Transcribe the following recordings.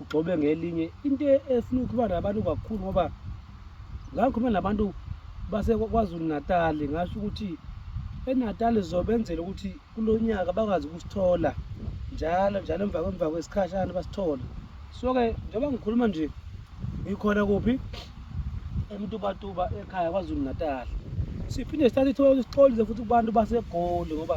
ugxobe ngelinye into efuna ukuba nabantu kakhulu ngoba ngakhuluma nabantu basekwazulu natali ngasho ukuthi enatali zobenzela ukuthi kulo nyaka bakwazi ukusithola njalo njalo emva kwemva kwesikhashana basithole so-ke njengoba ngikhuluma nje ngikhona kuphi emtubatuba ekhaya kwazulu natali siphinde sithathe ithuba ukuthi sixolise futhi kubantu basegoli ngoba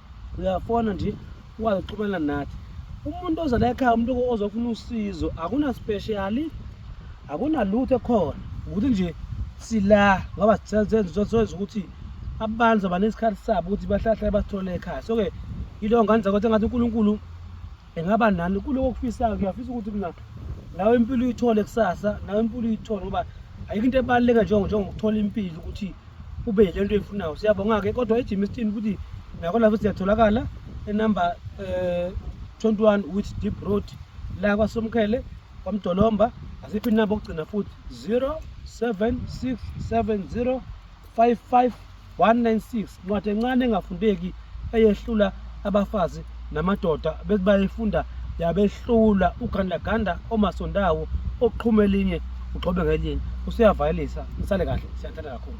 uyafona nje ukwazi ukuxhumana nathi umuntu oza la ekhaya umuntu ozofuna usizo akunaspeshali akunalutho ekhona ukuthi nje sila ngoba senza ukuthi abantu abanesikhathi sabo ukuthi bahlahlale basithole ekhaya so-ke yiloo ngane zakwethe ngathi unkulunkulu engaba nani kuloko okufisayo ngiyafisa ukuthi mina nawe impilo uyithole kusasa nawe impilo uyithole ngoba ayikho into ebaluleka njengokuthola impilo ukuthi ube yile nto eyifunayo siyabonga-ke kodwa ejim isitini futhi nakona futhi siyatholakala enumber um eh, 21 with deep road la kwasomkhele kwamdolomba asiphi inamba okugcina futhi 0767 55196 ncwadi encane engafundeki eyehlula abafazi namadoda bethi bayifunda yabehlula ugandaganda omasondawo oqhuma elinye ugxobe ngelinye usuyavayelisa nisale kahle siyathanda kakhulu